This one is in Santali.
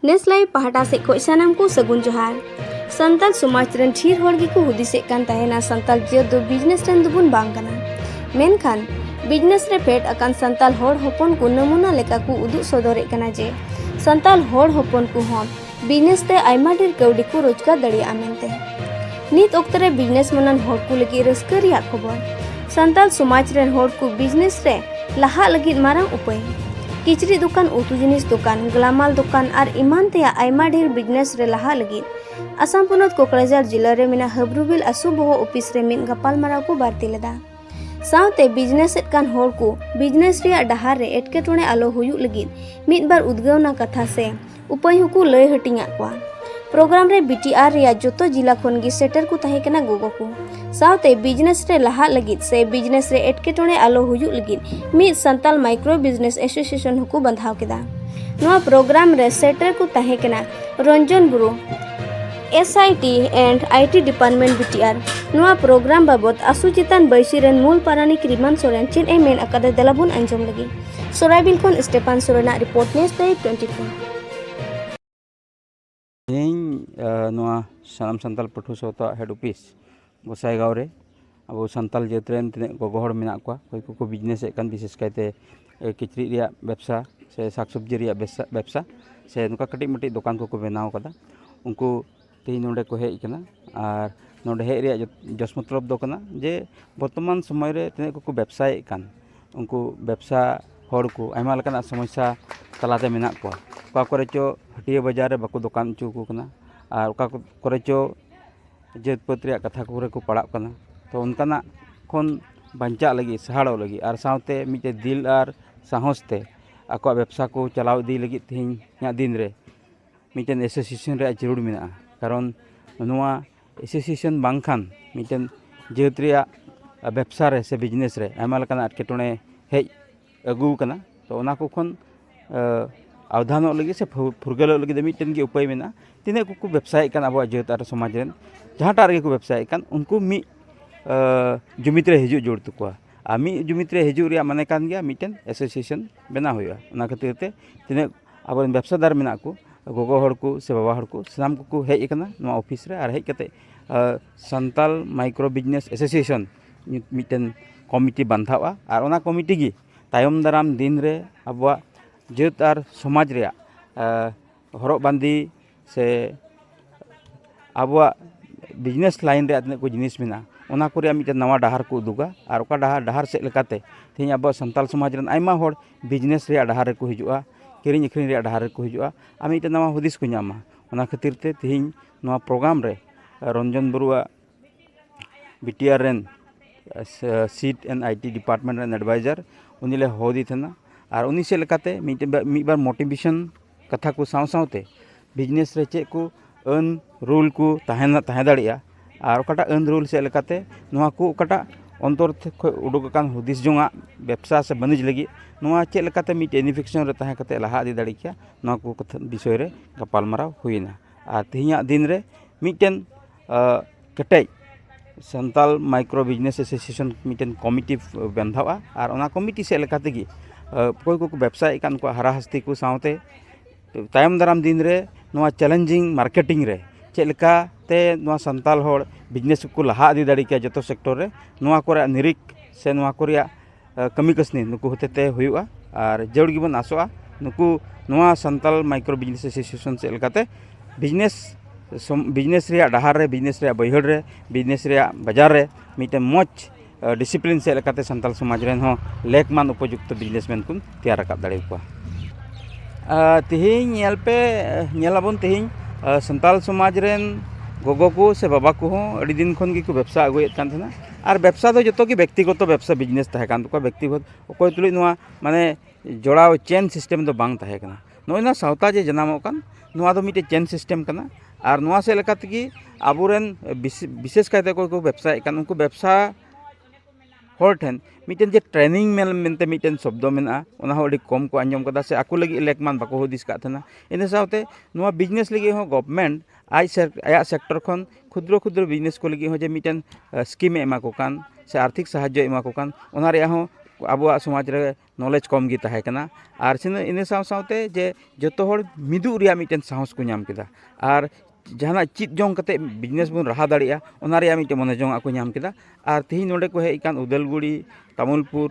ᱱᱮᱥᱞᱟᱭ ᱯᱟᱦᱴᱟ ᱥᱮᱫ ᱠᱷᱚᱱ ᱥᱟᱱᱟᱢ ᱠᱚ ᱥᱟᱹᱜᱩᱱ ᱡᱚᱦᱟᱨ ᱥᱟᱱᱛᱟᱲ ᱥᱚᱢᱟᱡᱽ ᱨᱮᱱ ᱰᱷᱮᱨ ᱦᱚᱲ ᱜᱮᱠᱚ ᱦᱩᱫᱤᱥᱮᱫ ᱠᱟᱱ ᱛᱟᱦᱮᱱᱟ ᱥᱟᱱᱛᱟᱲ ᱡᱟᱹᱛ ᱫᱚ ᱵᱤᱡᱽᱱᱮᱥ ᱨᱮᱱ ᱫᱚᱵᱚᱱ ᱵᱟᱝ ᱠᱟᱱᱟ ᱢᱮᱱᱠᱷᱟᱱ ᱵᱤᱡᱽᱱᱮᱥ ᱨᱮ ᱯᱷᱮᱰ ᱟᱠᱟᱱ ᱥᱟᱱᱛᱟᱲ ᱦᱚᱲ ᱦᱚᱯᱚᱱ ᱠᱚ ᱱᱟᱢᱩᱱᱟ ᱞᱮᱠᱟ ᱠᱚ ᱩᱫᱩᱜ ᱥᱚᱫᱚᱨᱮᱫ ᱠᱟᱱᱟ ᱡᱮ ᱥᱟᱱᱛᱟᱲ ᱦᱚᱲ ᱦᱚᱯᱚᱱ ᱠᱚᱦᱚᱸ ᱵᱤᱡᱽᱱᱮᱥ ᱛᱮ ᱟᱭᱢᱟ ᱰᱷᱮᱨ ᱠᱟᱹᱣᱰᱤ ᱠᱚ ᱨᱳᱡᱽᱜᱟᱨ ᱫᱟᱲᱮᱭᱟᱜᱼᱟ ᱢᱮᱱᱛᱮ ᱱᱤᱛ ᱚᱠᱛᱚ ᱨᱮ ᱵᱤᱡᱽᱱᱮᱥ ᱢᱟᱱᱟᱱ ᱦᱚᱲ ᱠᱚ ᱞᱟᱹᱜᱤᱫ ᱨᱟᱹᱥᱠᱟᱹ ᱨᱮᱭᱟᱜ ᱠᱷᱚᱵᱚᱨ ᱥᱟᱱᱛᱟᱲ ᱥᱚᱢᱟᱡᱽ ᱨᱮᱱ ᱦᱚᱲ ᱠᱚ ᱵᱤᱡᱽᱱᱮᱥ ᱨᱮ ᱞᱟᱦᱟᱜ ᱞᱟᱹᱜᱤᱫ ᱢᱟᱨᱟᱝ ᱩᱯᱟᱹᱭ ᱠᱤᱪᱨᱤᱡ ᱫᱚᱠᱟᱱ ᱩᱛᱩ ᱡᱤᱱᱤᱥ ᱫᱚᱠᱟᱱ ᱜᱞᱟᱢᱟᱞ ᱫᱚᱠᱟᱱ ᱟᱨ ᱮᱢᱟᱱ ᱛᱮᱭᱟᱜ ᱟᱭᱢᱟ ᱰᱷᱮᱨ ᱵᱤᱡᱽᱱᱮᱥ ᱨᱮ ᱞᱟᱦᱟᱜ ᱞᱟᱹᱜᱤᱫ ᱟᱥᱟᱢ ᱯᱚᱱᱚᱛ ᱠᱚᱠᱨᱟᱡᱷᱟᱨ ᱡᱤᱞᱟ ᱨᱮ ᱢᱮᱱᱟᱜ ᱦᱟᱵᱨᱩᱵᱤᱞ ᱟᱥᱩ ᱵᱚᱦᱚ ᱚᱯᱷᱤᱥ ᱨᱮ ᱢᱤᱫ ᱜᱟᱯᱟᱞᱢᱟᱨᱟᱣ ᱠᱚ ᱵᱟᱹᱲᱛᱤ ᱞᱮᱫᱟ ᱥᱟᱶᱛᱮ ᱵᱤᱡᱽᱱᱮᱥ ᱮᱫ ᱠᱟᱱ ᱦᱚᱲ ᱠᱚ ᱵᱤᱡᱽᱱᱮᱥ ᱨᱮᱭᱟᱜ ᱰᱟᱦᱟᱨ ᱨᱮ ᱮᱴᱠᱮᱴᱚᱬᱮ ᱟᱞᱚ ᱦᱩᱭᱩᱜ ᱞᱟᱹᱜᱤᱫ ᱢᱤᱫ ᱵᱟᱨ ᱩᱫᱽᱜᱟᱹᱣᱱᱟ ᱠᱟᱛᱷᱟ ᱥᱮ ᱩᱯᱟᱹᱭ ᱦᱚᱸᱠᱚ ᱞᱟᱹᱭ ᱦᱟᱹᱴᱤᱧᱟᱫ ᱠᱚᱣᱟ ᱯᱨᱳᱜᱨᱟᱢ ᱨᱮ ᱵᱤᱴᱤᱟᱨ ᱨᱮᱭᱟᱜ ᱡᱚᱛᱚ ᱡᱤᱞᱟ ᱠᱷᱚᱱ ᱜᱮ ᱥᱮᱴᱮᱨ ᱠᱚ ᱛᱟᱦᱮᱸ ᱠᱟᱱᱟ ᱜᱚᱜᱚ ᱠᱚ ᱥᱟᱶᱛᱮ ᱵᱤᱡᱽᱱᱮᱥ ᱨᱮ ᱞᱟᱦᱟᱜ ᱞᱟᱹᱜᱤᱫ ᱥᱮ ᱵᱤᱡᱽᱱᱮᱥ ᱨᱮ ᱮᱴᱠᱮᱴᱚᱬᱮ ᱟᱞᱚ ᱦᱩᱭᱩᱜ ᱞᱟᱹᱜᱤᱫ ᱢᱤᱫ ᱥᱟᱱᱛᱟᱞ ᱢᱟᱭᱠᱨᱳ ᱵᱤᱡᱽᱱᱮᱥ ᱮᱥᱳᱥᱤᱭᱮᱥᱚᱱ ᱦᱚᱸᱠᱚ ᱵᱟᱸᱫᱷᱟᱣ ᱠᱮᱫᱟ ᱱᱚᱣᱟ ᱯᱨᱳᱜᱨᱟᱢ ᱨᱮ ᱥᱮᱴᱮᱨ ᱠᱚ ᱛᱟᱦᱮᱸ ᱠᱟᱱᱟ ᱨᱚᱧᱡᱚᱱ ᱵᱩᱨᱩ S I T and I T department B T R ᱱᱚᱣᱟ ᱯᱨᱳᱜᱨᱟᱢ ᱵᱟᱵᱚᱫ ᱟᱥᱩ ᱪᱮᱛᱟᱱ ᱵᱟᱹᱭᱥᱤ ᱨᱮᱱ ᱢᱩᱞ ᱯᱟᱨᱟᱱᱤᱠ ᱨᱤᱢᱟᱱ ᱥᱚᱨᱮᱱ ᱪᱮᱫ ᱮ ᱢᱮᱱ ᱟᱠᱟᱫᱟ ᱫᱮᱞᱟ ᱵᱚᱱ ᱟᱸᱡᱚᱢ ᱞᱟᱹᱜᱤᱫ ᱥᱚᱨᱟᱭᱵᱤᱞ ᱠᱷᱚᱱ ᱥᱴᱮᱯᱟᱱ ᱥᱚᱨᱮᱱᱟᱜ ᱨᱤᱯᱳᱨᱴ ᱱᱮᱥ ᱫᱟᱭᱤ ᱴᱩᱭᱮᱱᱴᱤ ᱯᱷᱳᱨ ᱛᱮᱦᱮᱧ ᱱᱚᱣᱟ ᱥᱟᱱᱟᱢ ᱥᱟᱱᱛᱟᱲ ᱯᱟᱹᱴᱷᱩᱣᱟᱹ ᱥᱟᱶᱛᱟ ᱦᱮᱰ ᱚᱯᱷᱤᱥ ᱜᱚᱥᱟᱭᱜᱟᱶ ᱨᱮ ᱟᱵᱚ ᱥᱟᱱᱛᱟᱞ ᱡᱟᱹᱛ ᱨᱮᱱ ᱛᱤᱱᱟᱹᱜ ᱜᱚᱜᱚ ᱦᱚᱲ ᱢᱮᱱᱟᱜ ᱠᱚᱣᱟ ᱚᱠᱚᱭ ᱠᱚᱠᱚ ᱵᱤᱡᱽᱱᱮᱥᱮᱫ ᱠᱟᱱ ᱵᱤᱥᱮᱥ ᱠᱟᱭᱛᱮ ᱠᱤᱪᱨᱤᱡ ᱨᱮᱭᱟᱜ ᱵᱮᱵᱽᱥᱟ ᱥᱮ ᱥᱟᱠ ᱥᱚᱵᱽᱡᱤ ᱨᱮᱭᱟᱜ ᱵᱮᱵᱽᱥᱟ ᱥᱮ ᱱᱚᱝᱠᱟ ᱠᱟᱹᱴᱤᱡ ᱢᱟᱹᱴᱤᱡ ᱫᱚᱠᱟᱱ ᱠᱚᱠᱚ ᱵᱮᱱᱟᱣ ᱠᱟᱫᱟ ᱩᱱᱠᱩ ᱛᱮᱦᱮᱧ ᱱᱚᱰᱮ ᱠᱚ ᱦᱮᱡ ᱠᱟᱱᱟ ᱟᱨ ᱱᱚᱰᱮ ᱦᱮᱡ ᱨᱮᱭᱟᱜ ᱡᱚᱥ ᱢᱚᱛᱞᱚᱵ ᱫᱚ ᱠᱟᱱᱟ ᱡᱮ ᱵᱚᱨᱛᱚᱢᱟᱱ ᱥᱚᱢᱚᱭ ᱨᱮ ᱛᱤᱱᱟᱹᱜ ᱠᱚᱠᱚ ᱵᱮᱵᱽᱥᱟᱭᱮᱫ ᱠᱟᱱ ᱩᱱᱠᱩ ᱵᱮᱵᱽᱥᱟ ᱦᱚᱲ ᱠᱚ ᱟᱭᱢᱟ ᱞᱮᱠᱟᱱᱟᱜ ᱥᱚᱢᱚᱥᱥᱟ ᱛᱟᱞᱟᱛᱮ ᱢᱮᱱᱟᱜ ᱠᱚᱣᱟ ᱚᱠᱟ ᱠᱚᱨᱮ ᱪᱚ ᱦᱟᱹᱴᱭᱟᱹ ᱵᱟᱡᱟᱨ ᱨᱮ ᱵᱟᱠᱚ ᱫᱚᱠᱟᱱ ᱦᱚᱪᱚ ᱠᱚ ᱠᱟᱱᱟ ᱟᱨ ᱚᱠᱟ ᱠᱚᱨᱮ ᱪᱚ ᱡᱟᱹᱛ ᱯᱟᱹᱛ ᱨᱮᱭᱟᱜ ᱠᱟᱛᱷᱟ ᱠᱚᱨᱮ ᱠᱚ ᱯᱟᱲᱟᱜ ᱠᱟᱱᱟ ᱛᱚ ᱚᱱᱠᱟᱱᱟᱜ ᱠᱷᱚᱱ ᱵᱟᱧᱪᱟᱜ ᱞᱟᱹᱜᱤᱫ ᱥᱟᱦᱟᱲᱚᱜ ᱞᱟᱹᱜᱤᱫ ᱟᱨ ᱥᱟᱶᱛᱮ ᱢᱤᱫᱴᱮᱱ ᱫᱤᱞ ᱟᱨ ᱥᱟᱦᱚᱥ ᱛᱮ ᱟᱠᱚᱣᱟᱜ ᱵᱮᱵᱽᱥᱟ ᱠᱚ ᱪᱟᱞᱟᱣ ᱤᱫᱤ ᱞᱟᱹᱜᱤᱫ ᱛᱮᱦᱮᱧ ᱨᱮᱭᱟᱜ ᱫᱤᱱ ᱨᱮ ᱢᱤᱫᱴᱮᱱ ᱮᱥᱳᱥᱤᱭᱮᱥᱚᱱ ᱨᱮᱭᱟᱜ ᱡᱟᱹᱨᱩᱲ ᱢᱮᱱᱟᱜᱼᱟ ᱠᱟᱨᱚᱱ ᱱᱚᱣᱟ ᱮᱥᱳᱥᱤᱭᱮᱥᱚᱱ ᱵᱟᱝᱠᱷᱟᱱ ᱢᱤᱫᱴᱮᱱ ᱡᱟᱹᱛ ᱨᱮᱭᱟᱜ ᱵᱮᱵᱽᱥᱟ ᱨᱮ ᱥᱮ ᱵᱤᱡᱽᱱᱮᱥ ᱨᱮ ᱟᱭᱢᱟ ᱞᱮᱠᱟᱱᱟᱜ ᱮᱴᱠᱮᱴᱚᱬᱮ ᱦᱮᱡ ᱟᱹᱜᱩ ᱟᱠᱟᱱᱟ ᱛᱚ ᱚᱱᱟ ᱠᱚ ᱠᱷᱚᱱ ᱟᱣᱫᱷᱟᱱᱚᱜ ᱞᱟᱹᱜᱤᱫ ᱥᱮ ᱯᱷᱩᱨᱜᱟᱹᱞᱚᱜ ᱞᱟᱹᱜᱤᱫ ᱫᱚ ᱢᱤᱫᱴᱮᱱ ᱜᱮ ᱩᱯᱟᱹᱭ ᱢᱮᱱᱟᱜᱼᱟ ᱛᱤᱱᱟᱹᱜ ᱠᱚᱠᱚ ᱵᱮᱵᱽᱥᱟᱭᱮᱫ ᱠᱟᱱ ᱟᱵᱚᱣᱟᱜ ᱡᱟᱹᱛ ᱟᱨ ᱥᱚᱢᱟᱡᱽ ᱨᱮᱱ ᱡᱟᱦᱟᱸᱴᱟᱜ ᱨᱮᱜᱮ ᱠᱚ ᱵᱮᱵᱽᱥᱟᱭᱮᱫ ᱠᱟᱱ ᱩᱱᱠᱩ ᱢᱤᱫ ᱡᱩᱢᱤᱫ ᱨᱮ ᱦᱤᱡᱩᱜ ᱡᱟᱹᱨᱩᱲ ᱛᱟᱠᱚᱣᱟ ᱟᱨ ᱢᱤᱫ ᱡᱩᱢᱤᱫ ᱨᱮ ᱦᱤᱡᱩᱜ ᱨᱮᱭᱟᱜ ᱢᱟᱱᱮ ᱠᱟᱱ ᱜᱮᱭᱟ ᱢᱤᱫᱴᱮᱱ ᱮᱥᱳᱥᱤᱭᱮᱥᱚᱱ ᱵᱮᱱᱟᱣ ᱦᱩᱭᱩᱜᱼᱟ ᱚᱱᱟ ᱠᱷᱟᱹᱛᱤᱨ ᱛᱮ ᱛᱤᱱᱟᱹᱜ ᱟᱵᱚ ᱨᱮᱱ ᱵᱮᱵᱽᱥᱟᱫᱟᱨ ᱢᱮᱱᱟᱜ ᱠᱚ ᱜᱚᱜᱚ ᱦᱚᱲ ᱠᱚ ᱥᱮ ᱵᱟᱵᱟ ᱦᱚᱲ ᱠᱚ ᱥᱟᱱᱟᱢ ᱠᱚᱠᱚ ᱦᱮᱡ ᱟᱠᱟᱱᱟ ᱱᱚᱣᱟ ᱚᱯᱷᱤᱥ ᱨᱮ ᱟᱨ ᱦᱮᱡ ᱠᱟᱛᱮᱫ ᱥᱟᱱᱛᱟᱲ ᱢᱟᱭᱠᱨᱳ ᱵᱤᱡᱽᱱᱮᱥ ᱮᱥᱳᱥᱤᱭᱮᱥᱚᱱ ᱢᱤᱫᱴᱮᱱ ᱠᱚᱢᱤᱴᱤ ᱵᱟᱱᱫᱷᱟᱜᱼᱟ ᱟᱨ ᱚᱱᱟ ᱠᱚᱢᱤᱴᱤ ᱜᱮ ᱛᱟᱭᱚᱢ ᱫᱟᱨᱟᱢ ᱫᱤᱱ ᱨᱮ ᱟᱵᱚᱣᱟᱜ ᱡᱟᱹᱛ ᱟᱨ ᱥᱚᱢᱟᱡᱽ ᱨᱮᱭᱟᱜ ᱦᱚᱨᱚᱜ ᱵᱟᱸᱫᱮ ᱥᱮ ᱟᱵᱚᱣᱟᱜ ᱵᱤᱡᱽᱱᱮᱥ ᱞᱟᱭᱤᱱ ᱨᱮᱭᱟᱜ ᱛᱤᱱᱟᱹᱜ ᱠᱚ ᱡᱤᱱᱤᱥ ᱢᱮᱱᱟᱜᱼᱟ ᱚᱱᱟ ᱠᱚ ᱨᱮᱭᱟᱜ ᱢᱤᱫᱴᱮᱱ ᱱᱟᱣᱟ ᱰᱟᱦᱟᱨ ᱠᱚ ᱩᱫᱩᱜᱟ ᱟᱨ ᱚᱠᱟ ᱰᱟᱦᱟᱨ ᱰᱟᱦᱟᱨ ᱥᱮᱫ ᱞᱮᱠᱟᱛᱮ ᱛᱮᱦᱤᱧ ᱟᱵᱚ ᱥᱟᱱᱛᱟᱲ ᱥᱚᱢᱟᱡᱽ ᱨᱮᱱ ᱟᱭᱢᱟ ᱦᱚᱲ ᱵᱤᱡᱽᱱᱮᱥ ᱨᱮᱭᱟᱜ ᱰᱟᱦᱟᱨ ᱨᱮᱠᱚ ᱦᱤᱡᱩᱜᱼᱟ ᱠᱤᱨᱤᱧ ᱟᱹᱠᱷᱨᱤᱧ ᱨᱮᱭᱟᱜ ᱰᱟᱦᱟᱨ ᱨᱮᱠᱚ ᱦᱤᱡᱩᱜᱼᱟ ᱟᱨ ᱢᱤᱫᱴᱮᱱ ᱱᱟᱣᱟ ᱦᱩᱫᱤᱥ ᱠᱚ ᱧᱟᱢᱟ ᱚᱱᱟ ᱠᱷᱟᱹᱛᱤᱨ ᱛᱮ ᱛᱮᱦᱤᱧ ᱱᱚᱣᱟ ᱯᱨᱳᱜᱨᱟᱢ ᱨᱮ ᱨᱚᱱᱡᱚᱱ ᱵᱟᱹᱨᱩᱣᱟᱜ ᱵᱤ ᱴᱤ ᱟᱨ ᱨᱮᱱ seat and I T department ᱨᱮᱱ ᱮᱰᱵᱷᱟᱭᱡᱟᱨ ᱩᱱᱤ ᱞᱮ ᱦᱚᱦᱚᱣᱟᱫᱮ ᱛᱟᱦᱮᱱᱟ ᱟᱨ ᱩᱱᱤ ᱥᱮᱫ ᱞᱮᱠᱟᱛᱮ ᱢᱤᱫ ᱵᱟᱨ ᱢᱳᱴᱤᱵᱷᱮᱥᱚᱱ ᱠᱟᱛᱷᱟ ᱠᱚ ᱥᱟᱶ ᱥᱟᱶᱛᱮ ᱵᱤᱡᱽᱱᱮᱥ ᱨᱮ ᱪᱮᱫ ᱠᱚ ᱟᱹᱱ ᱨᱳᱞ ᱠᱚ ᱛᱟᱦᱮᱱᱟ ᱛᱟᱦᱮᱸ ᱫᱟᱲᱮᱭᱟᱜᱼᱟ ᱟᱨ ᱚᱠᱟᱴᱟᱜ ᱟᱹᱱ ᱨᱳᱞ ᱥᱮᱫ ᱞᱮᱠᱟᱛᱮ ᱱᱚᱣᱟ ᱠᱚ ᱚᱠᱟᱴᱟᱜ ᱚᱱᱛᱚᱨ ᱠᱷᱚᱱ ᱩᱰᱩᱠ ᱟᱠᱟᱱ ᱦᱩᱫᱤᱥ ᱡᱚᱝᱟᱜ ᱵᱮᱵᱽᱥᱟ ᱥᱮ ᱵᱟᱹᱱᱤᱡᱽ ᱞᱟᱹᱜᱤᱫ ᱱᱚᱣᱟ ᱪᱮᱫ ᱞᱮᱠᱟᱛᱮ ᱢᱤᱫ ᱤᱱᱤᱯᱷᱮᱠᱥᱮᱱ ᱨᱮ ᱛᱟᱦᱮᱸ ᱠᱟᱛᱮᱫ ᱞᱟᱦᱟ ᱤᱫᱤ ᱫᱟᱲᱮ ᱠᱮᱭᱟ ᱱᱚᱣᱟ ᱠᱚ ᱠᱟᱛᱷᱟ ᱵᱤᱥᱚᱭ ᱨᱮ ᱜᱟᱯᱟᱞᱢᱟᱨᱟᱣ ᱦᱩᱭᱱᱟ ᱟᱨ ᱛᱮᱦᱮᱧᱟᱜ ᱫᱤᱱ ᱨᱮ ᱢᱤᱫᱴᱮᱱ ᱠᱮᱴᱮᱡ ᱥᱟᱱᱛᱟᱞ ᱢᱟᱭᱠᱨᱳ ᱵᱤᱡᱽᱱᱮᱥ ᱮᱥᱳᱥᱤᱭᱮᱥᱚᱱ ᱢᱤᱫᱴᱮᱱ ᱠᱚᱢᱤᱴᱤ ᱵᱟᱱᱫᱷᱟᱜᱼᱟ ᱟᱨ ᱚᱱᱟ ᱠᱚᱢᱤᱴᱤ ᱥᱮᱫ ᱞᱮᱠᱟ ᱛᱮᱜᱮ ᱚᱠᱚᱭ ᱠᱚᱠᱚ ᱵᱮᱵᱽᱥᱟᱭᱮᱫ ᱠᱟᱱ ᱩᱱᱠᱩᱣᱟᱜ ᱦᱟᱨᱟ ᱦᱟᱹᱥᱛᱤ ᱠᱚ ᱥᱟᱶᱛᱮ ᱛᱟᱭᱚᱢ ᱫᱟᱨᱟᱢ ᱫᱤᱱ ᱨᱮ ᱱᱚᱣᱟ ᱪᱮᱞᱮᱧᱡᱤᱝ ᱢᱟᱨᱠᱮᱴᱤᱝ ᱨᱮ ᱪᱮᱫ ᱞᱮᱠᱟᱛᱮ ᱱᱚᱣᱟ ᱥᱟᱱᱛᱟᱞ ᱦᱚᱲ ᱵᱤᱡᱽᱱᱮᱥ ᱠᱚᱠᱚ ᱞᱟᱦᱟ ᱤᱫᱤ ᱫᱟᱲᱮ ᱠᱮᱭᱟ ᱡᱚᱛᱚ ᱥᱮᱠᱴᱚᱨ ᱨᱮ ᱱᱚᱣᱟ ᱠᱚᱨᱮᱭᱟᱜ ᱱᱤᱨᱤᱠᱷ ᱥᱮ ᱱᱚᱣᱟ ᱠᱚᱨᱮᱭᱟᱜ ᱠᱟᱹᱢᱤ ᱠᱟᱹᱥᱱᱤ ᱱᱩᱠᱩ ᱦᱚᱛᱮ ᱛᱮ ᱦᱩᱭᱩᱜᱼᱟ ᱟᱨ ᱡᱟᱹᱨᱩᱲ ᱜᱮᱵᱚᱱ ᱟᱥᱚᱜᱼᱟ ᱱᱩᱠᱩ ᱱᱚᱣᱟ ᱥᱟᱱᱛᱟᱲ ᱢᱟᱭᱠᱨᱳ ᱵᱤᱡᱽᱱᱮᱥ ᱮᱥᱳᱥᱤᱭᱮᱥᱚᱱ ᱥᱮᱫ ᱞᱮᱠᱟᱛᱮ ᱵᱤᱡᱽᱱᱮᱥ ᱵᱤᱡᱽᱱᱮᱥ ᱨᱮᱭᱟᱜ ᱰᱟᱦᱟᱨ ᱨᱮ ᱵᱤᱡᱽᱱᱮᱥ ᱨᱮᱭᱟᱜ ᱵᱟᱹᱭᱦᱟᱹᱲ ᱨᱮ ᱵᱤᱡᱽᱱᱮᱥ ᱨᱮᱭᱟᱜ ᱵᱟᱡᱟᱨ ᱨᱮ ᱢᱤᱫᱴᱮᱱ ᱢᱚᱡᱽ ᱰᱤᱥᱤᱯᱞᱤᱱ ᱥᱮᱫ ᱞᱮᱠᱟᱛᱮ ᱥᱟᱱᱛᱟᱲ ᱥᱚᱢᱟᱡᱽ ᱨᱮᱱ ᱦᱚᱸ ᱞᱮᱠᱢᱟᱱ ᱩᱯᱚᱡᱩᱠᱛᱚ ᱵᱤᱡᱽᱱᱮᱥ ᱢᱮᱱ ᱠᱚᱧ ᱛᱮᱭᱟᱨ ᱨᱟᱠᱟᱵ ᱫᱟᱲᱮ ᱟᱠᱚᱣᱟ ᱛᱮᱦᱮᱧ ᱧᱮᱞ ᱯᱮ ᱧᱮᱞ ᱟᱵᱚᱱ ᱛᱮᱦᱮᱧ ᱥᱟᱱᱛᱟᱲ ᱥᱚᱢᱟᱡᱽ ᱨᱮᱱ ᱜᱚᱜᱚ ᱠᱚ ᱥᱮ ᱵᱟᱵᱟ ᱠᱚᱦᱚᱸ ᱟᱹᱰᱤ ᱫᱤᱱ ᱠᱷᱚᱱ ᱜᱮᱠᱚ ᱵᱮᱵᱽᱥᱟ ᱟᱹᱜᱩᱭᱮᱫ ᱠᱟᱱ ᱛᱟᱦᱮᱱᱟ ᱟᱨ ᱵᱮᱵᱽᱥᱟ ᱫᱚ ᱡᱚᱛᱚ ᱜᱮ ᱵᱮᱠᱛᱤᱜᱚᱛᱚ ᱵᱮᱵᱽᱥᱟ ᱵᱤᱡᱽᱱᱮᱥ ᱛᱟᱦᱮᱸ ᱠᱟᱱ ᱛᱟᱠᱚᱣᱟ ᱵᱮᱠᱛᱤᱜᱚᱛ ᱚᱠᱚᱭ ᱛᱩᱞᱩᱡ ᱱᱚᱣᱟ ᱢᱟᱱᱮ ᱡᱚᱲᱟᱣ ᱪᱮᱱ ᱥᱤᱥᱴᱮᱢ ᱫᱚ ᱵᱟᱝ ᱛᱟᱦᱮᱸ ᱠᱟᱱᱟ ᱱᱚᱜᱼᱚᱭ ᱱᱟ ᱥᱟᱶᱛᱟ ᱡᱮ ᱡᱟᱱᱟᱢᱚᱜ ᱠᱟᱱ ᱱᱚᱣᱟ ᱫᱚ ᱢᱤᱫᱴᱮᱡ ᱪᱮᱱ ᱥᱤᱥᱴᱮᱢ ᱠᱟᱱᱟ ᱟᱨ ᱱᱚᱣᱟ ᱥᱮᱫ ᱞᱮᱠᱟ ᱛᱮᱜᱮ ᱟᱵᱚ ᱨᱮᱱ ᱵᱤᱥᱮᱥ ᱠᱟᱭᱛᱮ ᱚᱠᱚᱭ ᱠᱚ ᱵᱮᱵᱽᱥᱟᱭᱮᱜ ᱠᱟᱱ ᱩᱱᱠᱩ ᱵᱮᱵᱽᱥᱟ ᱦᱚᱲ ᱴᱷᱮᱱ ᱢᱤᱫᱴᱮᱱ ᱡᱮ ᱴᱨᱮᱱᱤᱝ ᱢᱮᱞ ᱢᱮᱱᱛᱮ ᱢᱤᱫᱴᱮᱱ ᱥᱚᱵᱫᱚ ᱢᱮᱱᱟᱜᱼᱟ ᱚᱱᱟ ᱦᱚᱸ ᱟᱹᱰᱤ ᱠᱚᱢ ᱠᱚ ᱟᱸᱡᱚᱢ ᱠᱟᱫᱟ ᱥᱮ ᱟᱠᱚ ᱞᱟᱹᱜᱤᱫ ᱞᱮᱠ ᱢᱟ ᱵᱟᱠᱚ ᱦᱩᱫᱤᱥ ᱠᱟᱜ ᱛᱟᱦᱮᱱᱟ ᱤᱱᱟᱹ ᱥᱟᱶᱛᱮ ᱱᱚᱣᱟ ᱵᱤᱡᱽᱱᱮᱥ ᱞᱟᱹᱜᱤᱫ ᱦᱚᱸ ᱜᱚᱵᱷᱢᱮᱱᱴ ᱟᱡ ᱥᱮᱨ ᱟᱭᱟᱜ ᱥᱮᱠᱴᱚᱨ ᱠᱷᱚᱱ ᱠᱷᱩᱫᱽᱨᱚ ᱠᱷᱩᱫᱽᱨᱚ ᱵᱤᱡᱽᱱᱮᱥ ᱠᱚ ᱞᱟᱹᱜᱤᱫ ᱦᱚᱸ ᱡᱮ ᱢᱤᱫᱴᱮᱱ ᱥᱠᱤᱢᱮ ᱮᱢᱟ ᱠᱚ ᱠᱟᱱ ᱥᱮ ᱟᱨᱛᱷᱤᱠ ᱥᱟᱦᱟᱡᱽᱡᱚᱭ ᱮᱢᱟ ᱠᱚ ᱠᱟᱱ ᱚᱱᱟ ᱨᱮᱭᱟᱜ ᱦᱚᱸ ᱟᱵᱚᱣᱟᱜ ᱥᱚᱢᱟᱡᱽ ᱨᱮ ᱱᱚᱞᱮᱡᱽ ᱠᱚᱢ ᱜᱮ ᱛᱟᱦᱮᱸ ᱠᱟᱱᱟ ᱟᱨ ᱥᱤᱱᱟᱹ ᱤᱱᱟᱹ ᱥᱟᱶ ᱥᱟᱶᱛᱮ ᱡᱮ ᱡᱚᱛᱚ ᱦᱚᱲ ᱢᱤᱫᱩᱜ ᱨᱮᱭᱟᱜ ᱢᱤᱫᱴᱮᱱ ᱥᱟᱦᱚᱥ ᱠᱚ ᱧᱟᱢ ᱠᱮᱫᱟ ᱟᱨ ᱡᱟᱦᱟᱱᱟᱜ ᱪᱮᱫ ᱡᱚᱝ ᱠᱟᱛᱮᱫ ᱵᱤᱡᱽᱱᱮᱥ ᱵᱚᱱ ᱞᱟᱦᱟ ᱫᱟᱲᱮᱭᱟᱜᱼᱟ ᱚᱱᱟ ᱨᱮᱭᱟᱜ ᱢᱤᱫᱴᱮᱱ ᱢᱚᱱᱮ ᱡᱚᱝᱼᱟᱜ ᱠᱚ ᱧᱟᱢ ᱠᱮᱫᱟ ᱟᱨ ᱛᱮᱦᱤᱧ ᱱᱚᱸᱰᱮ ᱠᱚ ᱦᱮᱡ ᱟᱠᱟᱱ ᱩᱫᱟᱹᱞᱜᱩᱲᱤ ᱛᱟᱢᱩᱞᱯᱩᱨ